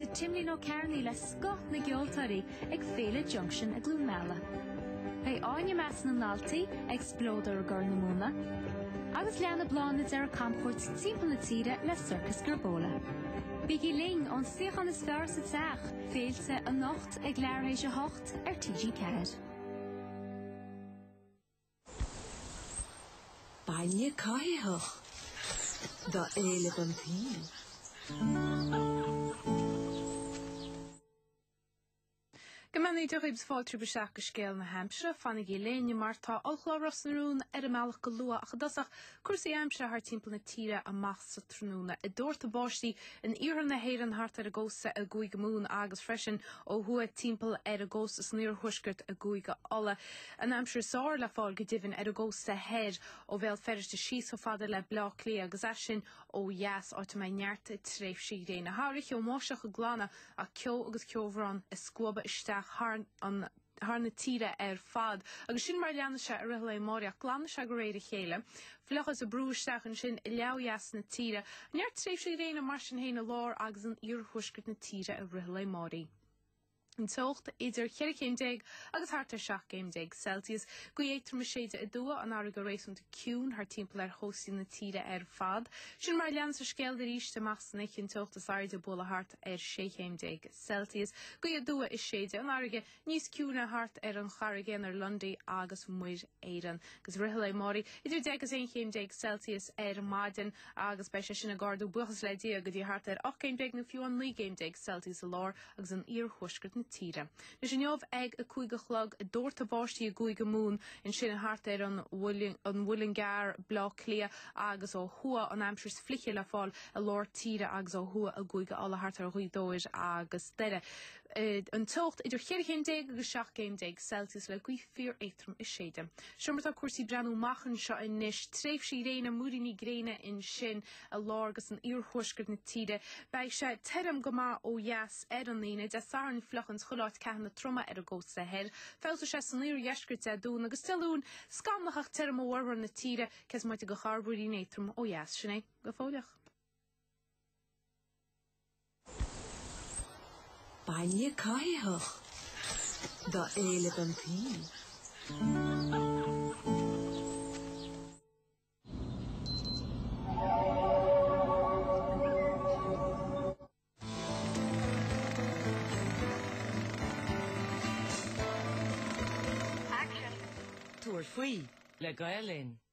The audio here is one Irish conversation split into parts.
le Timlín Ó Cearnaigh le scoth na gceoltóirí ag Féile Junction i gCluain Meala. Beidh Áine i measc na ndaltaí ag Spleodar i gCorr na Móna, agus leanfaidh Bláthnaid ar a camchuairt timpeall na tíre le Circus Gerbola. Bígí linn ón suíochán is fearr sa teach, Féilte anocht ag leathuair théis a hocht ar TG4. Bainne caithfeadh do éileamh an tsaoil. Go mbeannaí Dia dhaoibh is fáilte romhaibh isteach go scéal na haimsire. Fanaigí linn mar tá ollchlár Ros na Rún ar an mbealach go luath ach i dtosach Cúrsaí aimsire thart timpeall na tíre amach sa tráthnóna. Ag doirteadh báistí in iarthar na hÉireann thart ar an gcósta i gCúige Mumhan agus freisin ó thuaidh timpeall ar an gcósta san iarthuaisceart i gCúige Uladh. An aimsir is fearr le fáil go deimhin ar an gcósta thoir ó Bhéal Feirste síos chomh fada le Baile Átha Cliath agus as sin ó dheas, áit a mbeidh neart tréimhsí gréine. Thar oíche, an bháisteach ag glanadh ach ceo agus ceobhrán ag scuabadh isteach thar an thar na tíre ar fad. Agus sin mar a leanann sé i rith an lae amáraigh, ach glanann sé go réir a chéile. Fliuchas ag brú isteach ansin i leath theas na tíre. Neart tréimhsí gréine mar sin féin i lár agus in iarthuaisceart na tíre i rith an lae amáraigh. An teocht idir ceithre chéim déag agus thart ar seacht gcéim déag Celsius, gaoth éadrom ag séideadh aduaidh, an fharraige réasúnta ciúin thart timpeall ar chóstaí na tíre ar fad. Sin mar a leanas an scéal arís amach san oíche, an teocht is airde ag bualadh thart ar sé chéim déag Celsius. Gaoth aduaidh ag séideadh, an fharraige níos ciúine thart ar an Charraig Aonair, Lundy agus Muir Éireann. Agus i rith an lae amáraigh idir deich agus aon chéim déag Celsius ar maidin agus beidh sé sin ag ardú buíochas le Dia go dtí thart ar ocht gcéim déag nó fiú amháin naoi gcéim déag Celsius i lár agus in iarthuaisceart na tíre. Anois inniu ag a cúig a chlog ag doirteadh báistí i gCúige Mumhan ansin thart ar an Mhuileann gCearr, Bleá Cliath agus ó thuaidh an aimsir is fliche le fáil i lár tíre agus ó thuaidh i gCúige Uladh thart ar Ghaoth Dobhair agus Doire. An teocht idir 14 chéim agus 17 céim Celsius le gaoth fíoréadrom ag séideadh. Seo mar atá cúrsaí ag breathnú amach anseo anois. Tréimhsí gréine, múiríní gréine ansin i lár agus in iarthuaisceart na tíre. Beidh sé tirim go maith ó dheas ar an Aoine. Dé Sathairn fliuch i chuile áit, ceathanna troma ar an gcósta thoir. Feabhsóidh sé san iardheisceart Dé Domhnaigh agus Dé Luain scamallach ach tirim i bhformhór na tíre cé is moite de chorrmhúirín éadrom ó dheas, sin é. go fóilleach. Bainne caithfeadh do éileamh an t-aoi. Tabhair faoi le Gael Linn.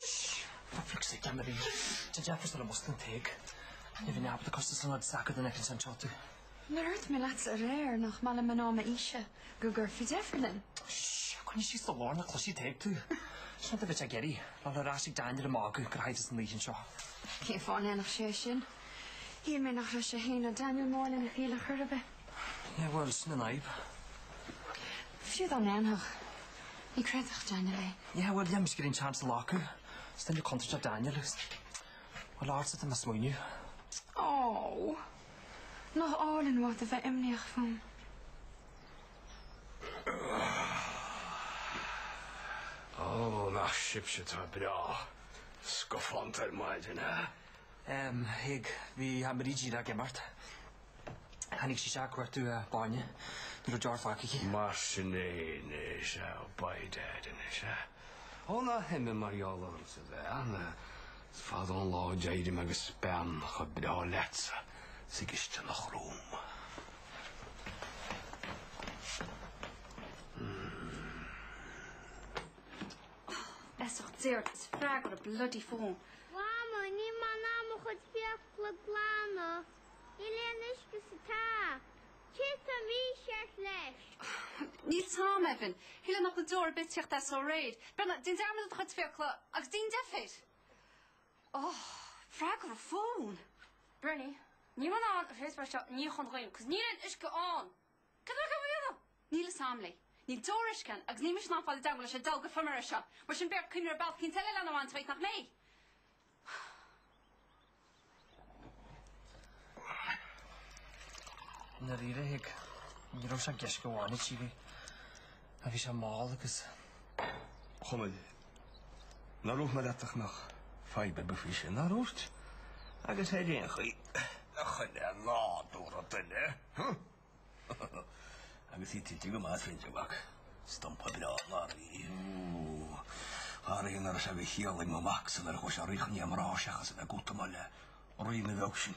Ó féach, sílim go mb'fhearr duit deifriú sula músclaíonn Tadhg. Ní bhíonn jab do costas san áit is deacair má fheiceann sé anseo tú. Nár dhúirt mé leatsa aréir nach maith le mná m'aoise go gcuirfí deifir linn. Shh, coinnigh síos do ghlór nó cloisfidh Tadhg tú. Sin rud a bheas ag iarraidh a ghabháil ar ais chuig Daniel ag magadh gur chaith tusa an oíche anseo. Cén fáth a ndéanfadh sé sin? Shíl mé nach raibh sé fhéin ná Daniel mór lena chéile ar chor ar bith. Yeah, well, is na naib. Fiú dá ndéanfadh, ní chreidfeadh Daniel é. Yeah, well, yeah, níl mise ag goil an seans a ghlacadh. Is duine contúirteach é Daniel agus, well, ortsa atá mé ag smaoineamh. Oh! Nach álainn uait a bheith imníoch fúm. Oh, nach sibhse atá breá scafánta ar maidin, eh? A Thaidhg, bhí Brídín ag imeacht. Tháinig sí isteach ag cuartú bainne, ní raibh deoir fágtha aici. Mar sin é anois, an ea, By Dad anois, an ea? Ó ná himigh mar gheall ormsa a bheith ann, is fada an lá ó d'éirigh mé agus bean chomh breá leatsa sa gcisteanach romham. Mmm. Feasacht déard is freagair an bloody fón. Mhama, níl mé in ann mo chuid fiacla a ghlanadh. Níl aon uisce sa tap. Céard atá mícheart leis? Níl a fhios agam, Evan. Thuilleadh nach bhfuil deoir ar bith ag tíocht as ó aréir. Breathnaigh, déan dearmad de do chuid fiacla agus déan deifir. Oh, freagair an fón. Berni, níl mé in ann an phriospar seo a níochán dhaoine, 'cos níl aon uisce ann. Cad é go bhfuil? Níl i sam léi. Níl deor uisce ann, agus níl mise in ann fáil i dteanga leis an dealg ag feirmeoir é seo. Mar sin b'fhearr coimre ar bealach éicint eile lena bhaint uait, nach mbeidh? Nadaoire, ní raibh sé an gceist go amháin ag Síle. Á, bhí sé mall agus come on. Nár dhúirt mé leat nach raibh fadhb ar bith faoi sin, nár dhúirt, agus ar aon chaoi nach in é nádúr an duine agus í tuillte go maith tríd an bhfac. Stumpa breá mná í. Faraor nach raibh sé de chiall ag mo mhacsa nár chuaigh sé ríchnaoi a mná seachas a bheith ag goil amach le Ríona bheag sin.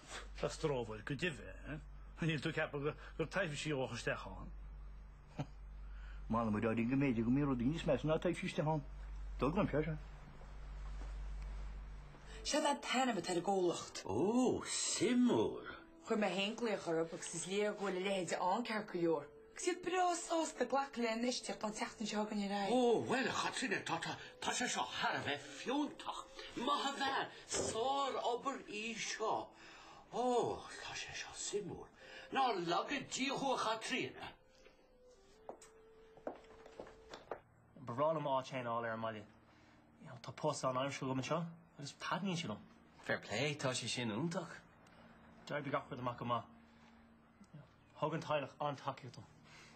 Freastrófar go deimhin, eh? Níl tú ag ceapadh go bhfuil taibhsí istigh ann? Molaimid orainn go mb'fhéidir go mbíonn rudaí níos measa ná taibhsí istigh ann. Dul go mpior, eh? Seo é an t-ainm atá ar an gcomhlacht. Ó, suimiúil! Chuir mé féin glaoch orthu agus is léir go bhfuil a leithéid ann, ceart go leor. Siad breá sásta glacadh le n-iostaíocht ón tseachtain seo againn ar aghaidh. Ó, bhuel, a Chaitríona, tá, tá, tá, tá sé seo thar a bheith fiúntach. Maith an bhean, sárobair í seo. Ó, tá sé seo suimiúil. Ná laga Dia thú, a Chaitríona. Ba bhreá liom áit féin a fháil ar an mbaile. You know, tá post páirtaimseartha agam anseo agus taitníonn sé liom. Fair play, tá sé sin iontach. D'oibrigh gach rud amach go maith. Thug an teaghlach an-tacaíocht dom.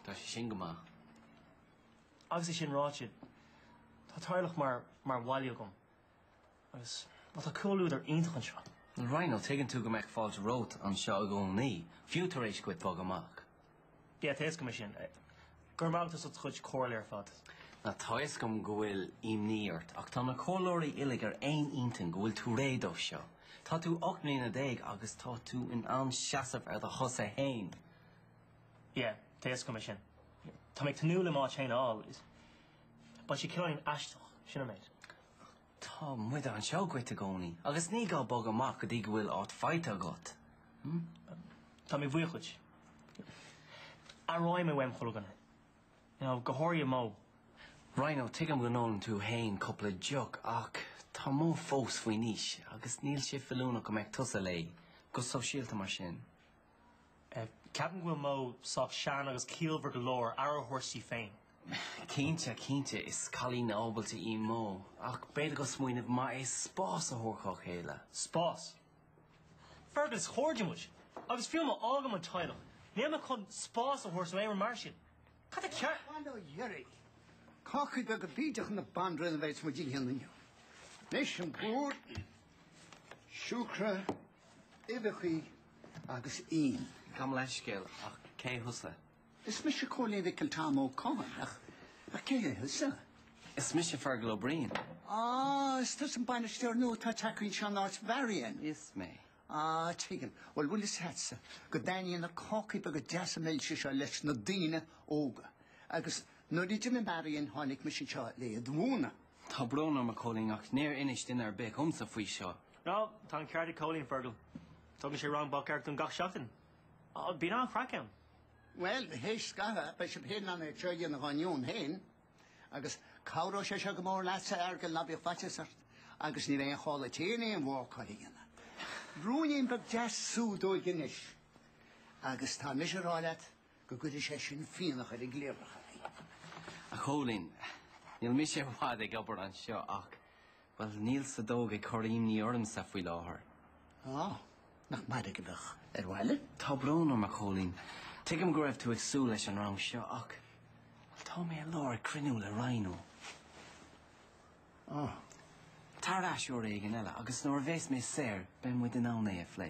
Tá sé sin go maith. Agus é sin ráite, tá teaghlach mar mar bhaile agam agus, bhuel, tá comhluadar iontach anseo. Rhino, tuigeann tú go mbeadh fáilte romhat anseo i gcónaí, fiú tar éis dhuit bogadh amach? Yeah, tá fhios agam é sin Go raibh maith agat as ucht do chuid comhairle ar fad. Tá a fhios agam go bhfuil imní ort, ach tá na comhairleoirí uilig ar aon intinn go bhfuil tú réidh dó seo. Tá tú ocht mbliana déag agus tá tú in ann seasamh ar do chosa fhéin. Yeah, tá fhios agam é sin. Tá mé ag tnúth le m'áit fhéin a fháil. Beidh sé cineál aisteach, sin an méid. Tá muid anseo dhuit i gcónaí agus ní gá bogadh amach go dtí go bhfuil áit faighte agat. Tá mé buíoch dhuit. Aireoidh mé uaim chuile dhuine. You know, go háirithe Mo. Rhino, tuigim go n-ólann tú fhéin cupla deoch ach tá Mo fós faoi aois agus níl sé feiliúnach go mbeadh tusa léi, go sóisialta mar sin. Ceapaim go bhfuil Mo sách sean agus ciallmhar go leor aire a thabhairt di féin. Cinnte, cinnte, is cailín ábalta í Mo, ach b'fhéidir gur smaoineamh maith é spás a thabhairt dhá chéile. Spás? Fergal, is cairde muid, agus fiú má fhágaim an teaghlach, níl mé chun spás a thabhairt nó aon rud mar sin. Ceart? Bail ó Dhia oraibh, cácaí beaga bídeacha na banríona a bheas muid a dhéanamh inniu? Anois, plúr, siúcra, uibheachaí agus im. Gabh mo leithscéal, ach cé thusa? Is mise Cóilín Mhicil Tom Ó Catháin, ach cé hé thusa? Is mise Fergal Ó Briain. Á, is tusa an bainisteoir nua atá tagtha anseo in áit Mharion. Is mé. Á, tuigim. Bhuel, bhfuil fhios agatsa go dtaitníonn na cácaí beaga deasa milse seo leis na daoine óga. Agus nuair a d'imigh Marion tháinig mise anseo le iad a mhúineadh. Tá brón orm, a Chóilín, ach níor inis duine ar bith dhomsa faoi seo. No, tá an ceart ag Cóilín, Fergal. Tugann sé rang bácála dúinn gach seachtain. Bíonn an-chraic ann. Bhuel, théis scaitheamh, beidh sibh féin in ann é seo a dhéanamh dhá ndeoin féin, agus cabhróidh sé seo go mór leatsa, a Fheargail, ná bíodh faitíos ort, agus ní bheidh aon chall a'd féin aon bhácáil a dhéanamh. Ruainnín beag deas subh sméar anois, agus tá mise a rá leat go gcuirfidh sé sin fionnadh ar an gcliabhrach. A Chóilín, níl mise i bhfad ag obair anseo ach Bhuel, níl sa dóigh ag cur imní ormsa faoi láthair. Á, nach mairg a bheadh ar bhaile? Tá brón orm, a Chóilín. Tuigim go raibh tú ag súil leis an rang seo ach, bhuel, tá mé i lár cruinniú le Ryan Ó. Á. Tar ar ais uair éigin eile agus nuair a bheas mé saor, beidh muid in ann é a phlé.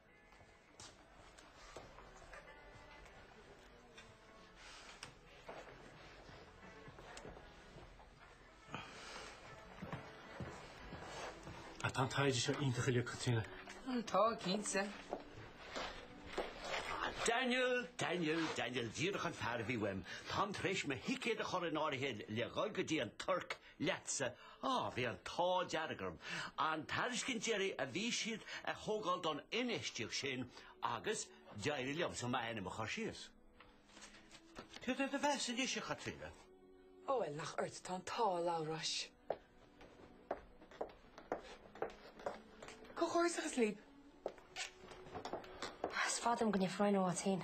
Ach tá an taighde seo iontach uilig, Caitríona. Tá, cinnte. Daniel, Daniel, Daniel, díreach an fear a bhí uaim. Táim tar éis mo thicéad a chur in áirithe le dhul go dtí an Tuirc leatsa, á, bhí an t-ádh dearg orm an tairiscint deiridh a bhí siad a thógáil don infheistíocht sin agus d'éirigh liomsa m'ainm a chur síos. Cé duit a bheas anois, a Chaitríona? Ó, bhuel, nach ort atá an t-ádh, a Labhráis. Comhghairdeachas libh. Is fada liom go ndéanfar aon rud as féin.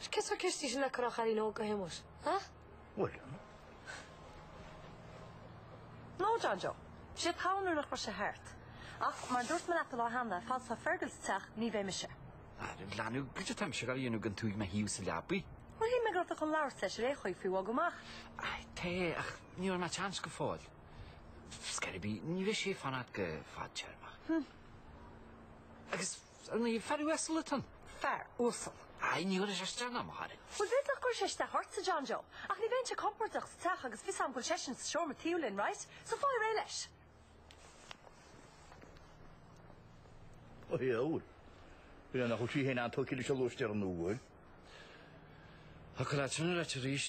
Cé sar Kirsty sin le cur a chailín óg go hiomair, ah? William? No, John Joe. Bhí sé togha nuair nach raibh sé thart. Ach mar a dúirt mé leat an lá cheana, fad is atá Fergal sa teach, ní bheidh mise. A leanbh, goidé atá mise ag dul a dhéanamh gan tú ag mo thaobh sa leabaidh. Bhuel, shíl mé go raibh tú chun labhairt leis aréir faoi bhogadh amach. Aye, tá, ach ní bhfuair mé chance go fóill. Scor ar bith, ní bheidh sé ag fanacht go fadtéarmach. Hm. Agus Ní fear uasal atá ann. Fear uasal? Aye, ní chuirfidh sé isteach ná amach orainn. Bhuel, b'fhéidir nach gcuirfidh sé isteach ortsa, John Joe. Ach ní bheinnse compordach sa teach agus fios a'm go bhfuil seisean sa seomra taobh linn, right? So faigh réidh leis. Aye, a bhuel. Bhuel, nach bhfuil sí féin an-tógtha leis an lóistéir nua? Ach go raibh tú ina raite arís.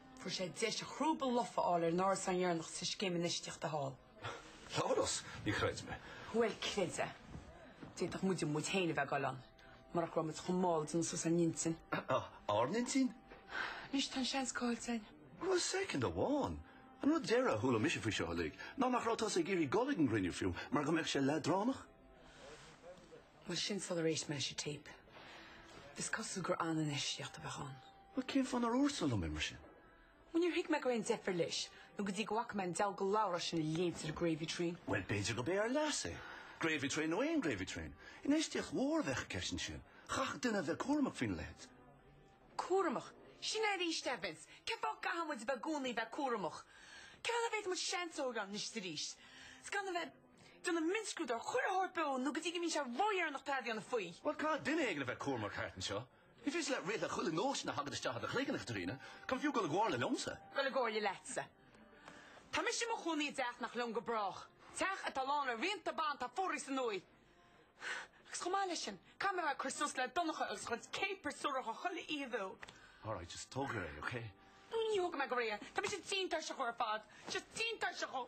Fuair sé deis a chrúba lofa a fháil ar an árasán dheireanach sa scéim infheistíochta thall. Labhrás, ní chreidim é. Bhuel, creid é. D'fhéadfadh muide muid féin a bheith ag dul ann, marach go raibh muid chomh mall ag déanamh suas ár n-intinn. Ár n-intinn? Anois tá an seans caillte againn. Bhuel, second amháin. An rud deireadh a chuala mise faoi seo uilig, ná nach raibh tusa ag iarraidh dul ag an gcruinniú fiú mar go mbeadh sé leadránach. Bhuel sin sular éist mé leis an téip. Is cosúil gur an-infheistíocht a bheadh ann. Bhuel, cén fáth nár dhúirt tusa liom é mar sin? Bhuel, níor thuig mé go raibh aon deifir leis, nó go dtí go bhfaca mé an diabhal de Labhrás sin ag léimt ar an Gravy Train. Bhuel, b'fhéidir gurb é ár leas é, Gravy Train nó aon Gravy Train. Infheistíocht mhór a bheadh i gceist ansin. Chaithfeadh duine a bheith cúramach faoina leithéid. Cúramach? Sin é arís, a Vince. Cén fáth go gcaithfidh muid a bheith i gcónaí a bheith cúramach? Cén fáth nach bhféadfaidh muid seans a thógáil anois is arís? Is gan a bheith ag déanamh mionscrúdú ar chuile shórt beo, nó go dtí go mbíonn sé ródheireanach tada a dhéanamh faoi. Bhuel, caithfidh duine éigin a bheith cúramach thart anseo. Ní féidir leat rith le chuile nóisean a thagann isteach i do chloigeann, a Chaitríona, gan fiú goil i gcomhairle liomsa? Goil i gcomhairle leatsa. Tá mise i mo chónaí i dteach nach liom go brách, teach atá lán le rianta bean atá fuaraithe san uaigh agus chomh maith leis sin, caithfidh mé a bheith ag cur suas le Donncha agus a chuid céapars suaracha chuile oíche beo. All right, just tóg go réidh, okay? Nó ní thógfaidh mé go réidh, tá mise tinn tuirseach ar fad, just tinn tuirseach dhó.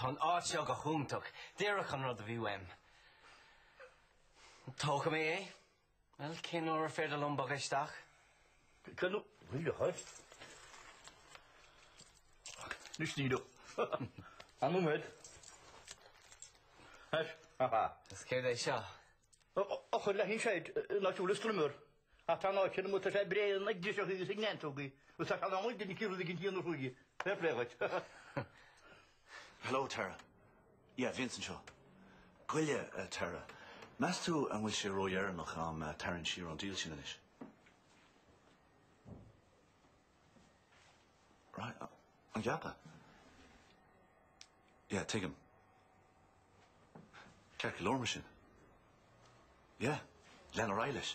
Tá an áit seo go hiontach. Díreach an rud a bhí uaim. Tógfaidh mé é. Bhuel, cén uair ar féidir liom bogadh isteach? Cad a bhí le haghaidh? Anois ní raibh an iomad ais, ha ha. Is céard é seo? Eochair le haghaidh an seid, an áit a bhfuil an strimmer. Ach tá an áit sin amuigh, tá sé bréan ag driseachaí is ag neantógaí agus tá sé in am ag duine eicínt rud eicínt a dhéanamh chuige. Fair play dhuit. Hello Tara. Yeah, Vince anseo. Gabh i leith a Tara. Meas tú an bhfuil sé ródheireanach agam tarraingt siar ón deal sin anois? Right, an gceapfá? Yeah, tuigim. Ceart go leor mar sin. Yeah, lean ar aghaidh leis.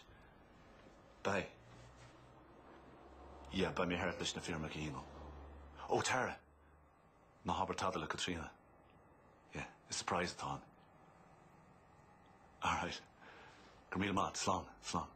Beidh. Yeah, beidh mé thart leis na foirmeacha a shíniú. Ó, Tara! Ná habair tada le Caitríona. Yeah, is surprise atá ann. All right. Go raibh míle maith agat, slán, slán.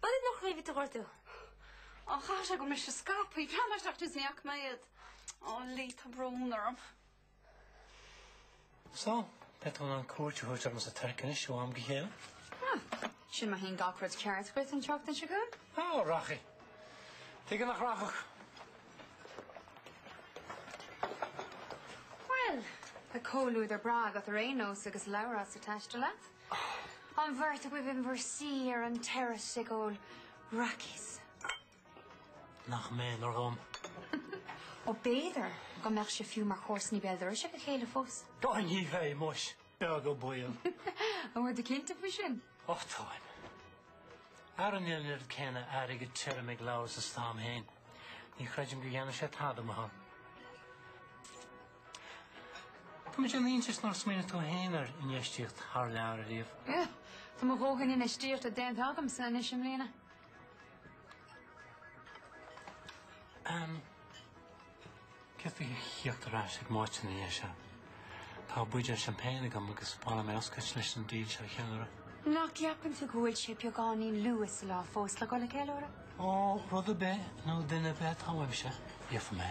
B'fhéidir nach raibh iad ag ordú. Ó, chaithfeadh sé gur mise a scaip iad. Bhreathnaigh mé isteach tús ní fhaca mé iad. Ó, Lee, tá brón orm. So, beidh tú in ann cuairt a thabhairt orm sa Tuirc anois ó am go chéile? Ó, sin má théann gach rud ceart dhuit an tseachtain seo chugainn. Ó, rachaidh. Tuige nach rachadh? Bhuel, tá comhluadar breá agat ar aon nós agus Labhrás ag taisteal leat. An bheirt agaibh in bhur suí ar an terrace ag ól raicís. Nach méanar dhom. Ó b'fhéidir go mbeadh sibh fiú mar chomharsanaí béal dorais ag a chéile fós. Go deimhin féin muis, beag an baol. An bhfuil tú cinnte faoi sin? Ó táim. Mara bhfuil an oiread céanna airgead tirim ag Labhrás is atá agam féin, ní chreidim go ndéanfaidh sé tada amach ann. Tá mé ag déanamh iontais nár smaoinigh tú féin ar infheistíocht thar lear riamh. Eh, tá mo dhóthain infheistíochta déanta agamsa anois i mbliana. Ann, céard faoi thíocht ar ais ag m'áit ina dhiaidh seo? Tá buidéal seaimpéin agam agus ba mhaith liom é a oscailt leis an deal seo a cheiliúradh. Nach gceapann tú go bhfuil sé beagáinín luath sa lá fós le dhul ag ceiliúradh? Ó, rud ar bith nó duine ar bith atá uaimse, gheobhaidh mé.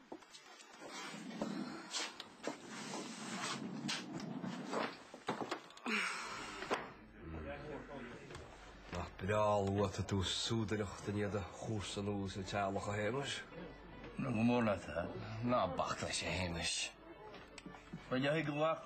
Nach breá luath atá tú ag súdaireacht i ndiaidh do chúrsa nua sna teaghlach, a Shéamais? Go mór leat, a. Ná bac leis, a Shéamais. Ba léir go bhfaca.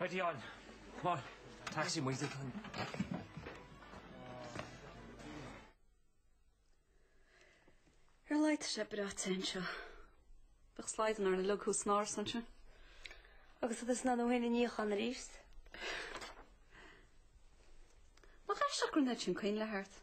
Ready on! Come on! Taxi muid ag an. Ar a laghad tá sé breá te anseo. Bheadh slaghdán ar na lucha thuas san árasán sin. Agus agus ná nó haon níocháin arís. Má chaith seachrán iad sin coinnle thart.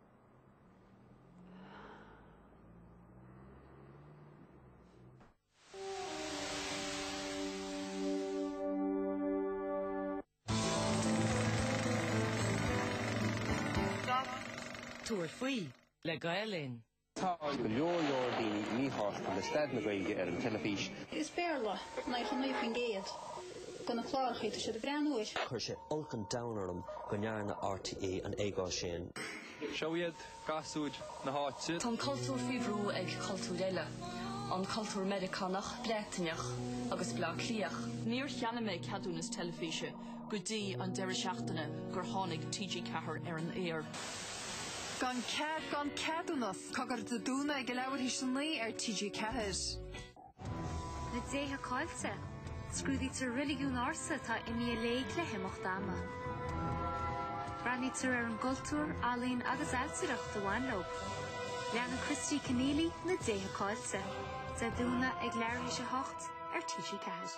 Tabhair faoi le Gael Linn. Tá go leor leor daoine míshásta le staid na Gaeilge ar an teilifís. Is Béarla, 99%. de na clárachaí atá siad ag breathnú ar. Chuir sé olc an domhain orm go ndearna RTÉ an éagóir sin. Seo iad gasúir na háite. Tá an cultúr faoi bhrú ag cultúir eile, an cultúr Meiriceánach, Breataineach agus Bleá Cliathach. Níor cheannaigh mé ceadúnas teilifíse go dtí an deireadh seachtaine gur tháinig TG Ceathair ar an aer. Gan cead gan ceadúnas, Cogar Dé Domhnaigh ag a leathuair tar éis a naoi ar TG4. Na déithe caillte. Scrúdaítear reiligiún ársa atá imithe i léig le himeacht ama. Breathnaítear ar an gcultúr, ealaín agus ailtireacht a bhain leo. Leanann Christy Kenneally na déithe caillte. Dé Domhnaigh ag leathuair tar éis a 8 ar TG4.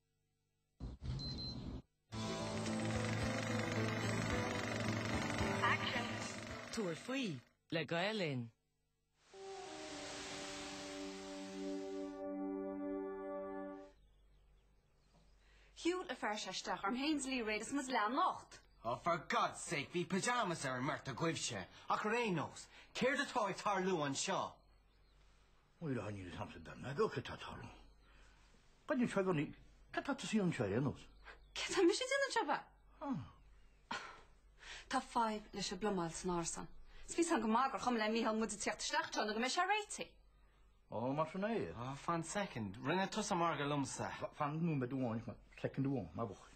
Tabhair faoi le Gael Linn. Shiúil an fear seo isteach orm féin is Mairéad is muid leathnocht. Oh for God's sake, bhí pyjamas ar an mbeirt agaibhse, ach ar aon nós, céard atá ag tarlú anseo? Nuair a tháinig an sampla beag ná beag céard atá ann? Ba dhein seo i gcónaí, cad tá tusa dhéanamh anseo ar aon nós? Cad tá mise déanamh anseo, ab ea? Ah. Tá fadhb leis an bplumáil san árasán. Is bhí a fhios agam go maith gur chuma le Mícheál muid ag teacht isteach anseo nó go mbeidh sé réitithe. Ó, mar sin é. Ah, fan soicind, rinne tusa margadh liomsa. Fan nóiméad amháin, fan soicind amháin, má mhothaigh.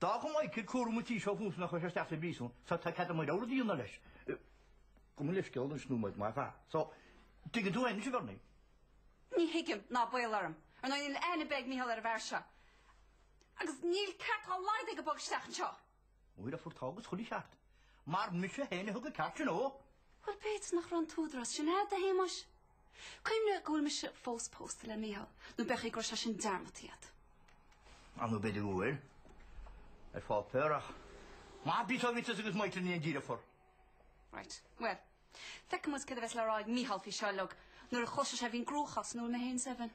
D'fhág Micheál cúram an tí seo fúmsa nuair a chuaigh sé isteach sa bpríosún, so tá cead agam mo rogha rud a dhéanamh leis. Gabh mo leithscéal don snow muid, mar bhreá. So, tuigeann tú anois, a Bherni? Ní thuigim, ná baol orm. Ar ndóigh, níl aithne ar bith ag Micheál ar an bhfear seo. Agus níl ceart dhá laghad aige bogadh isteach anseo. Nuair a fuair tá agus chuile cheart. Mar mise féin a thug an ceart sin dhó! Bhuel, b'fhéidir nach raibh an t-údarás sin agat, a Shéamuis. Cuimhnigh go bhfuil mise fós pósta le Micheál, nó b'fhéidir go raibh sé sin dearmadta agat. Ar ndóigh, b'fhéidir go bhfuil. Ar pháipéar, ach má bhí Táibhíteas agus Maíteas ina dhiaidh le fir. Right. Bhuel, feicfimid céard a bheas le rá ag Micheál faoi seo uilig nuair a chloisfeas sé faoin gcruachás ina bhfuil mé féin is Evan.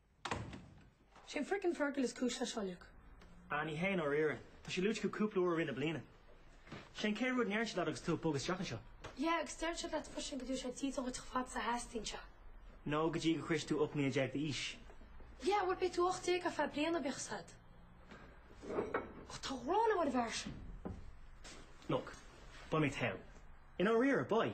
Sé frickin Fergal is cúis leis seo uilig. Ah, ní hé i ndáiríre. Tá sé luaite acu cúpla uair i rith na bliana. Sé an chéad rud a ndeireann siad leat agus tú ag bogadh isteach anseo. Yeah, agus deireann siad leat freisin go dtabharfaidh siad dídean duit chomh fada is a theastaíonn sé. Nó go dtí go sroichfidh tú 18 mbliana d'aois. Yeah, bhuel beidh tú 18 ar feadh bliana bíodh a fhios agat. Tá an ghráin agam ar an bhfear sin. Look, beidh mé fine. I ndáiríre, beidh.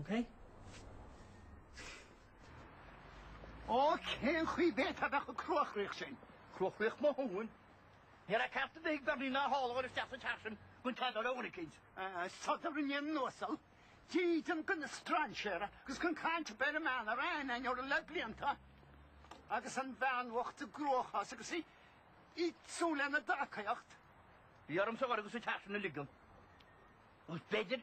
OK? Ó, cén chaoi bhféadfá bheith chomh cruachroíoch sin? Cruachroíoch mo thóin? Ní raibh ceart ar bith ag Berni ná sháláir isteach sa teach sin gan trácht ar Owenekins. Sodar i ndiaidh na n-uasal, dídean go na strainséara agus gan caint ar bith ar an mbean a raibh aithne againn uirthi le blianta, agus an bhean bhocht i gcruachás agus í ag súil lenár dtacaíocht. Bhí ormsa dhul agus an teach sin a ligean. Agus b'fhéidir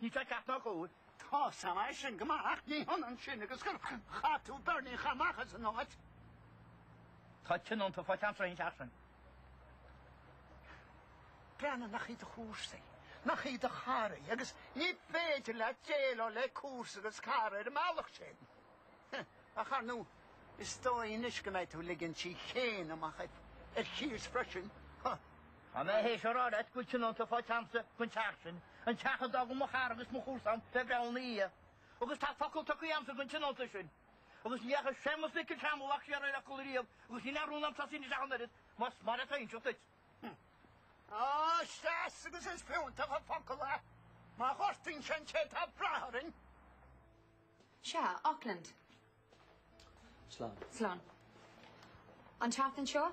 Ní feic ach do dhúil. Tá a fhios agam é sin go maith, ach ní hionann sin agus go gcaithfidh tú Berni a chaitheamh amach as an áit. Tá tionóntaí faighte agamsa don teach sin. Breandán, nach í do chomharsa í, nach í do chara í, agus ní féidir leat déileáil le comharsa agus cara ar an mbealach sin. Heh! Ach ar ndú, is dóigh anois go mbeidh tú ligint do thí fhéin amach ar chíos freisin, huh! Tá mé théis a rá leat go bhfuil tionónta faighte a'msa gon teach sin, an teach a d'fhága mo chara agus mo chomharsa, an fear breá, ina dhiaidh. Agus tá focal tugtha agamsa gon tionónta sin. Agus ní dheachaigh Séamas Mhicil Tom, a mhac, siar ar a fhocal riamh, agus níl aon rún a'm tosaí anois ach an oiread, más mar atá inseacht duit. Á, is deas agus is fiúntach an focal é! Má ghortaíonn sé an té atá ag brath orainn! Sea, Auckland. Slán. Slán. An tseachtain seo?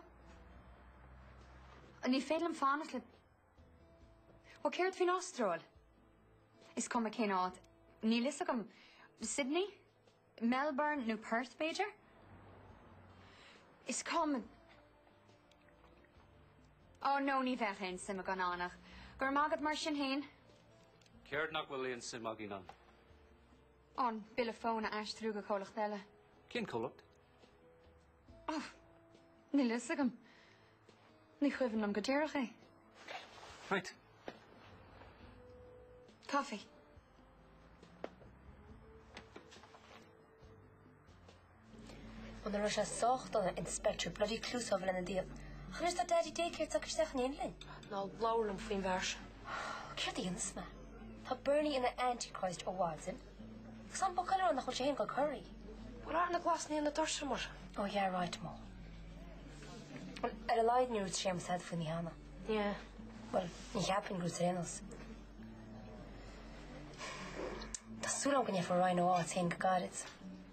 Ní féidir liom fanacht le. Bhuel, céard faoin Astráil? Is cuma cén áit. Níl fhios agam. Sydney? Melbourne nó Perth, b'fhéidir? Is cuma. Ó nó, ní bheadh aon suim againn ann ach. Go raibh maith agat mar sin fhéin. Céard nach bhfuil aon suim againn ann? An bille fóin a aistriú go comhlacht eile. Cén comhlacht? Oh, níl a fhios agam. Ní chuimhin liom go díreach é. Right. Coffee. Ó nach raibh sé sách dona inspector bloody Clouseau a bheith inár ndiaidh ach anois tá Daddy daycare tagtha isteach in éindí linn. Ná labhair liom faoin bhfear sin. Ó, céard a dhéanfas mé? Tá Bernie ina antichrist ó mhaidin. Is an boc eile ann nach bhfuil sé féin ag corraí. Bhuel, athraigh na glasannaí ar na doirse, mar sin. Ó, yeah, right, Mo. Bhuel, ar a laghad níor dhúirt Séamus tada faoi cheana. Yeah. Bhuel, ní cheapfainn gur dhúirt sé ar aon nós. Tá súil agam go bhfaighidh Ríona a háit féin go gairid.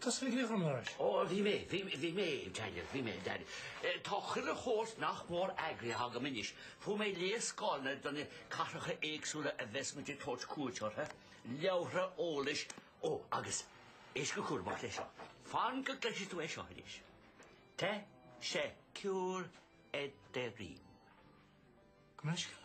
Tusa a bhí do mo lorg. Ó, bhí mé, bhí, bhí mé, Daniel, bhí mé, Daniel. Eh, tá chuile shórt nach mór eagraithe agam anois. Fuair mé léarscáileanna do na cathracha éagsúla a bheas muid ag tabhairt cuairt orthu, leabhra eolais, ó, agus, éist go cúramach le seo, fan go gcloisfidh tú é seo anois, teşekkür ederim. Gabh mo leithscéal.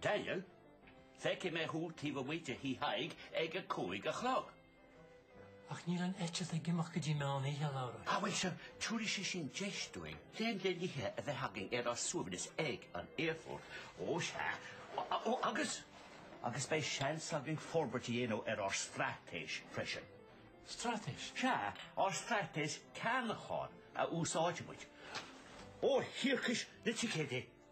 Daniel, Feicfidh mé thú taobh amuigh de Thí Thaidhg ag a cúig a chlog. Ach níl an eitilt ag imeacht go dtí meán oíche, a Laura. Á bhuel, sure, tabharfaidh sé sin deis dúinn greim le n-ithe a bheith againn ar ár suaimhneas ag an aerfort. Ó, sea. Ó, agus, agus beidh seans againn forbairt a dhéanamh ar ár straitéis freisin. Straitéis? Sea, ár straitéis ceannacháin a úsáidfidh muid. Ó, thiarcais na ticéidí!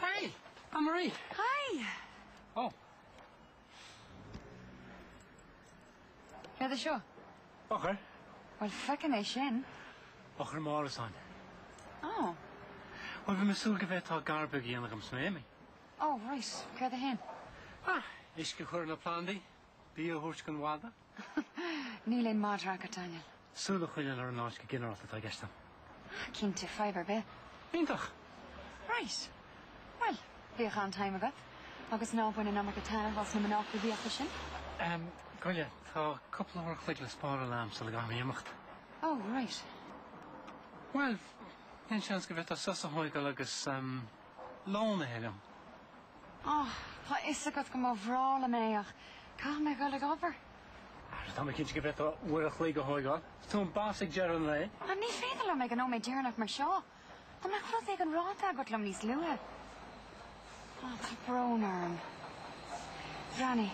Hey! Ann Marie! Hi! Oh. Céard é seo? Eochair. Bhuel, feicim é sin. Eochair m'árasáin. Oh. Bhuel, bhí mé ag súil go bhféadfá gar beag a dhéanamh dhom is mé imithe. Oh, right. Céard é féin? Ah, uisce a chur ar na plandaí. Bia a thabhairt don mhadadh? Níl aon madra agat, Daniel. Súil a choinneáil ar an áit go ginearálta atá i gceist agam. Cinnte, fadhb ar bith. Iontach! Right. Bhuel, bíodh an-time agat. Agus ná bain an iomarca taitnimh as na mná coimhthíocha sin. Ehm, gabh i leith, tá cúpla uair chloig le spáráil agam sula gcaithfidh mé imeacht. Oh, right. Bhuel, aon seans go bhféadfá sos a thógáil agus Lón a ithe liom. Áh, tá a fhios agat go mba bhreá liom é ach caithfidh mé a ghoil ag obair. Ara, tá mé cinnte go bhféadfá uair a chloig a thóigeáil. Is tú an boss ag deireadh an lae. Ahem, ní féidir liom ag an nóiméad deireanach mar seo. Dá mbeadh rud éigin ráite agat liom níos luaithe? Áh, tá brón orm. Danny,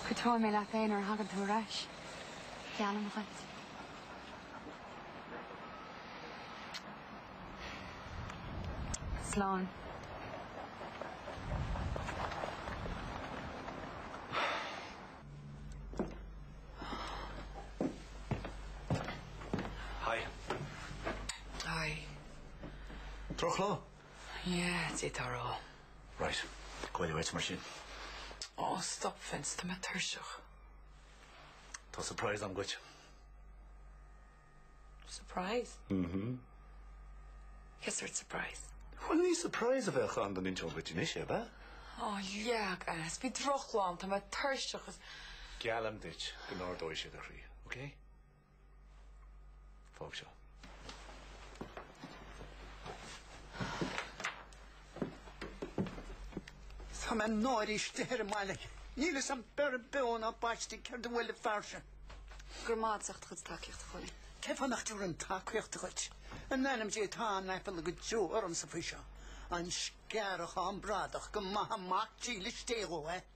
cúiteoidh mé leat é nuair a thagann tú ar ais. Geallaim dhuit. Slán. Hi. Hi. Drochlá? Yeah, it's it or all. Right. Gabh i leith uait mar sin. Ó, stop Vince, tá mé tuirseach. Tá surprise agam dhuit. Surprise? Mhm. Cé sórt surprise? Bhuel, ní surprise a bheadh ann dá n-inseoinn dhuit anois, ab ea? Á, leag as! Bhí drochlá a'm, tá mé tuirseach is. Geallaim duit go n-ardóidh sé do chroí, OK? Fág seo. Tá mé náirithe istigh ar an mbaile. Níl fhios a'm beirthe beo ná baiste céard a bhuail an fear sin. Go raibh maith agat as ucht do chuid tacaíocht a Chóilín. Cén fáth nach dtabharfainn tacaíocht dhuit in ainm Dé tá an-aiféala go deo ormsa faoi seo. An sciorrachán bradach go maithe Mac dílis Dé dhó é.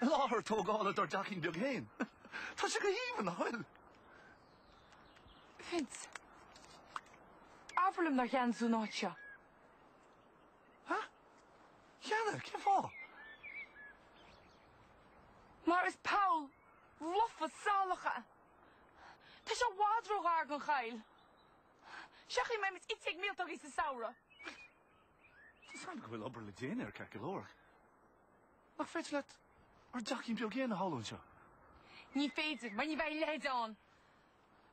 Láthair tógála dár dteachín beag féin. Tá sé go haoibhinn nach bhfuil? Vince, abair liom nár cheannaigh tú an áit seo. Ha? Cheannaigh. Cén fáth? Mar is poll lofa salach é. Tá sé i bhfad ró-ghar don choill. Seachain, beidh muid ite ag míoltógaí sa samhradh. Tuigim go bhfuil obair le déanamh ar cinnte, a stóirín. Ach nach féidir leat ár dteachín beag fhéin a shamhlú anseo? Ní féidir, mar ní bheidh a leithéid ann,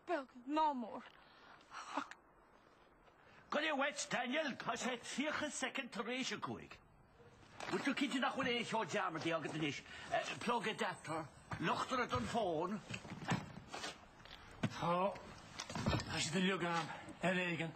beag ná mór. Goile uait, Daniel, tá sé tríocha soicind tar éis a cúig. Bhfuil tú cinnte nach bhfuil aon cheo dearmadta agat anois? Eh, plug adapter, luchtaire don fón? Tá, tá siad uilig agam, ar éigean.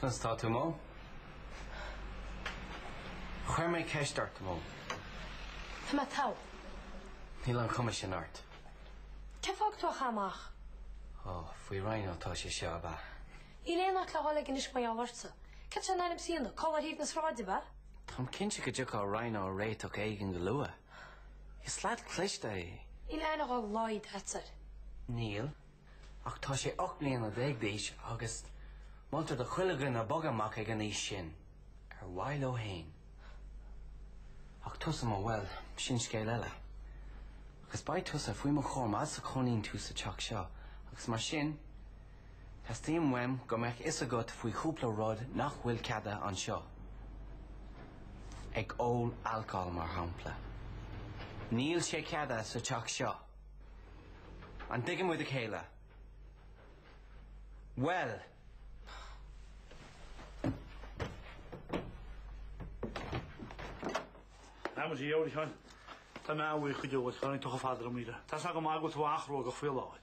Conas atá tú Mo? Chuir mé ceist ort Mo. Tá mé togha. Níl an chuma sin ort. Cén fáth gur chaith tú amach é? Ó, faoi Rhino atá sé seo, ab ea? Níl aon áit le dhul ag anois mar gheall ortsa. Céard atá i ndán dó anois? Codladh ar thaobh na sráide, ab ea? Táim cinnte go dtiocfaidh Rhino ar réiteach éigin go luath. Is leaid cliste é. Níl aon ghol Lloyd aitsair. Níl, ach tá sé ocht mbliana déag d'aois agus moltar do chuile dhuine bogadh amach ag an aois sin ar mhaithe leo féin. Ach tusa Mo, bhuel, sin scéal eile. Agus beidh tusa faoi mo chúram fad is a chónaíonn tú sa teach seo agus mar sin, Teastaíonn uaim go mbeadh fhios agat faoi chúpla rud nach bhfuil ceadaithe anseo, ag ól alcóil mar shampla. Níl sé ceadaithe sa teach seo. An dtuigeann muid a chéile? Bhuel! Tá muid ag ól ann. Tá mé ann faoi chuid eolais, tháinig tucha fadra míle. Tá sé go maith go tú achróga faoi láir.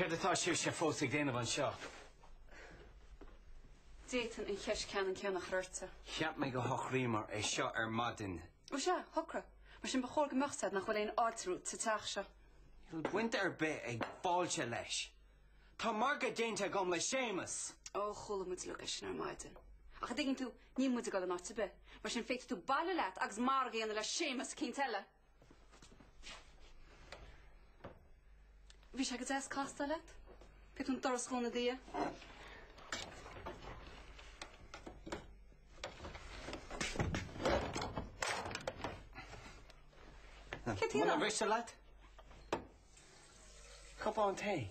Céard atá sibhse fós ag déanamh anseo? D'fhéadfainn an cheist ceannann céanna a chur ortsa. Cheap mé gur shocraíomar é seo ar maidin. Ó sea, shocraigh. Mar sin ba chóir go mbeadh fhios agat nach bhfuil aon fháilte romhat sa teach seo. Níl baint ar bith ag fáilte leis. Tá margadh déanta agam le Séamas! Ó, chuala muid uilig é sin ar maidin. Ach an dtuigeann tú, níl muid ag dul in áit ar bith, mar sin féadfaidh tú bailiú leat agus margadh a dhéanamh le Séamas eicínt eile. Bhí sé go deas castáil leat. Féadfaidh tú an doras a dhúnadh i do dhiaidh. Katy, muna mhiste leat? Cupán tae?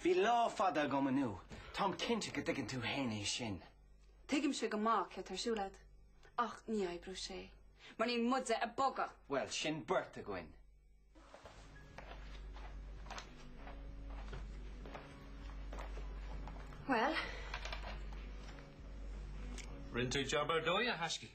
Bhí lá fada agam inniu, táim cinnte go dtuigeann tú fhéin é sin. Tuigimse go maith céard atá ar siúl agat, ach ní oibreoidh sé, mar níl muide ag bogadh! Bhuel, sin beirt againn. Bhuel? Rinne tú jab ar dóigh, a thaiscidh.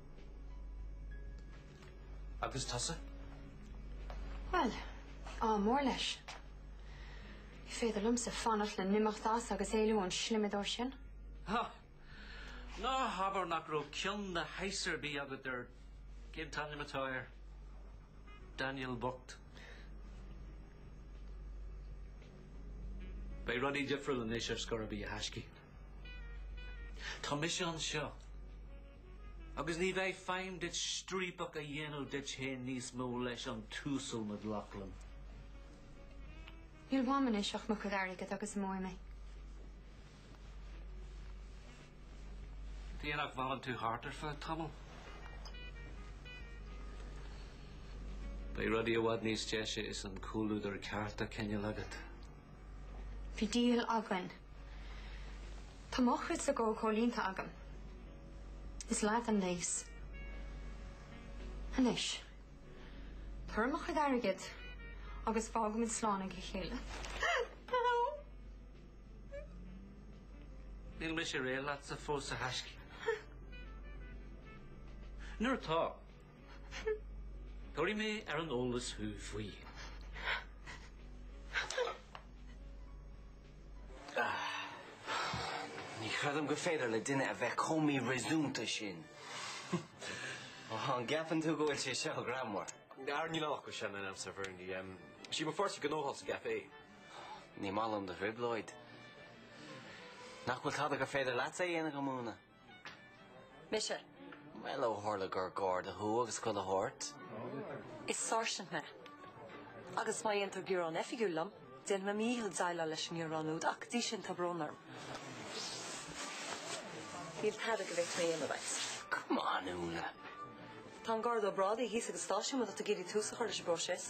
Agus tusa? Bhuel, ádh mór leis. Ní féidir liomsa fanacht le n-imeacht as agus éalú ón slimideoir sin. Ha! Ná habair nach raibh cion na haise ar bith agat ar cén t-ainm atá air? Daniel bocht. Beidh rudaí difriúil anois ar scor ar bith a thaiscidh. Tá mise anseo. Agus ní bheidh feidhm duit striapach a dhéanamh díot féin níos mó leis an tUasal McLaughlin. Níl uaim anois ach mo chuid airgid agus imeoidh mé. Tuige nach bhfanann tú thart ar feadh tamaill. Beidh rudaí i bhfad níos deise is an comhluadar ceart á choinneáil agat. Bhí deal againn. Tá mo chuidse dhó comhlíonta agam. Is leat an léas. Anois, tabhair dhom mo chuid airgid agus fágfaidh muid slán ag a chéile. Níl mise réidh leatsa fós a thaiscidh. Nuair atá, Tabharfaidh mé ar an eolas thú faoi. Ní chreidim gur féidir le duine a bheith chomh míreasúnta sin. An gceapann tú go bhfuil sé seo greannmhar? Ar ní leánfadh mé sin in aimsir Bherni. Is í mo pháirtí gnó í sa gcaifé. Ní maith liom do thrioblóid. Nach bhfuil tada gur féidir leatsa a dhéanamh dhom, a Úna? Mise. Bhuel, ó tharla gur garda thú agus chuile shórt. Is sáirsint mé. Agus má dhéantar gearán oifigiúil liom, déanfaidh mé mo dhícheall déileáil leis an ngearán úd ach go dtí sin tá brón orm. Níl tada go bhféadfaidh mé a dhéanamh dhuit. Come on, Úna. Tá an Garda Ó Brádaigh thíos ag an stáisiún, má tá tú ag iarraidh tús a chur leis an bpróiseas.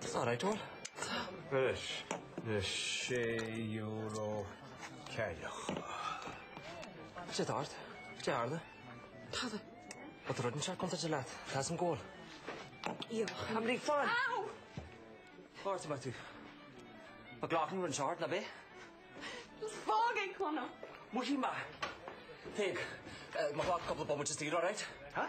That's not right, Eoin. Anois, na sé euro ceiliúrtha. Sé d'ard. Dearna. Tada. Bhfuil rud inteacht contráilte leat. Tá a fhios agam go bhfuil. Iarr an rí fan. Ow! Ghortaigh mé tú. McLaughlin run short, ná bith? Is fág é, Conall. Muicí maith. Téigh. Má ghlac cúpla bomaite saor, alright? Huh?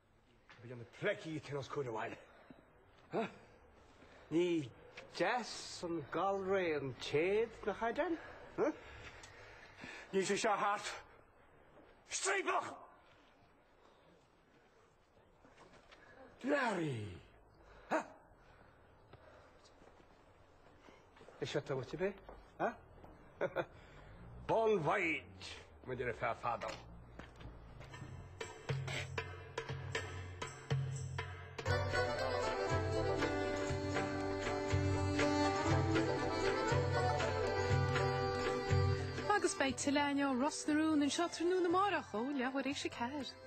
Bíonn na pleicí ag teagasc uair amháin. Ní deas an galar an t-éad, nach ea, Dan? Níl sé seo thart. Striapach! Larry! Is seo tá uait bith, ha? Bon voyage, muid ar feadh fada. Agus beidh tuilleadh inniu, Ros na Rún anseo tráthnóna amárach ó leathuair théis a ceathair.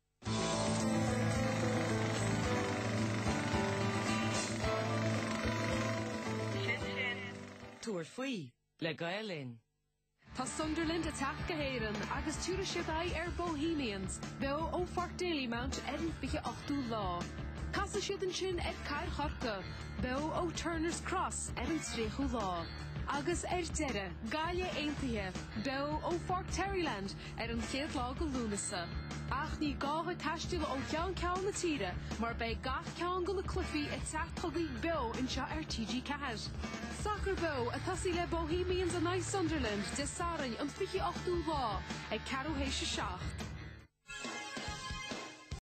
Tabhair faoi le Gael Linn. Tá Sunderland ag teacht go hÉireann agus tiúrfaidh siad aghaidh ar Bohemians beo ó Pháirc Dalymount ar an 28ú lá. Casfaidh siad ansin ar Cathair Chorcaí beo ó Turner's Cross ar an 30ú lá. Agus ar deireadh, Gaillimh Aontaithe beo ó Pháirc Terryland ar an chéad lá de Lúnasa. Ach ní gá dhuit taisteal ó cheann ceann na tíre mar beidh gach ceann de na cluichí ag teacht chugaibh beo anseo ar TG4. Sacar beo ag tosaí le Bohemians in aghaidh Sunderland Dé Sathairn an 28ú lá ag ceathrú théis a seacht.